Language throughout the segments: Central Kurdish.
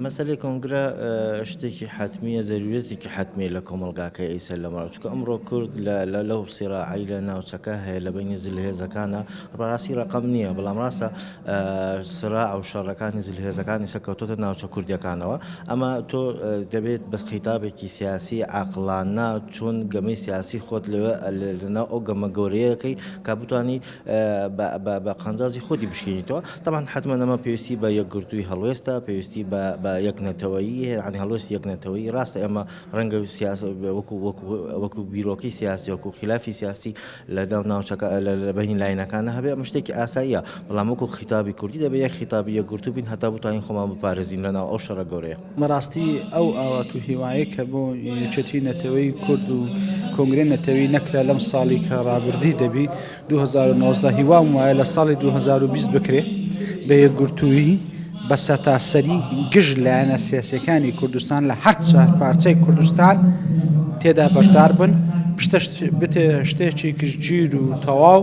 مەسەلەی کۆنگرە شتێکی حتممیە زەروورەتێکی حتممە لە کۆمەلگاکە ئیسەر لە ماچکە ئەمڕۆ کورد لە لەو سیراعی لە ناوچەکە هەیە لە بینی زلهێزەکانە ڕاستی ڕقم نییە بەڵام ڕاستە سرا و شەڕەکانی زلهێزەکانی سەکەوتۆتە ناوچە کوردیەکانەوە ئەمە تۆ دەبێت بەس خیتابێکی سیاسی عقلاننا چۆن گەمەی سیاسی خۆت لەوێ لەناو ئەو گەمە گەورەیەکەی کا بتانی بە بە قانزازی خۆتی بشکێنیتەوە تەمان حتممە ئەمە پێویستی بە یەکگرتووی هەڵوێستە پێویستی بە یەک نەتەوەیی هەیەنی هەڵوێست یەک نەتەوەی ڕاستە ئەمە ڕەنگە سیاس وەکو وەکو وەکو بیرۆکەی سیاسی وەکو خلافی سیاسی لەگەڵ ناوچەکە لە بەین لاینەکانە هەبێ ئەمە شتێکی ئاساییە بەڵام وەکو خیتابی کوردی دەبێ یەک خیتابی یەکگرتوو بین هەتا بتوانین خۆمان بپارێزین لەناو ئەو شەڕە گەورەیە بەڕاستی ئەو ئاوات و هیوایەی کە بۆ یەکێتی نەتەوەی کورد و کۆنگرەی نەتەوەی نەکرا لەم ساڵی کە ڕابردی دەبی 2019 هیوام وایە لە ساڵی 2020 بکرێ بە یەکگرتوویی بە سەتاسەری گشت لایەنە سیاسەکانی کوردستان لە هەر چوار پارچەی کوردستان تێدا بەشدار بن پشتە شتێکی گشتگیر و تەواو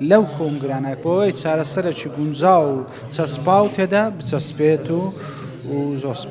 لەو کۆنگرانە بۆوەی چارەسەرەکی گونجاو و چەسپاو تێدا بچەسپێت و زۆر سپاس.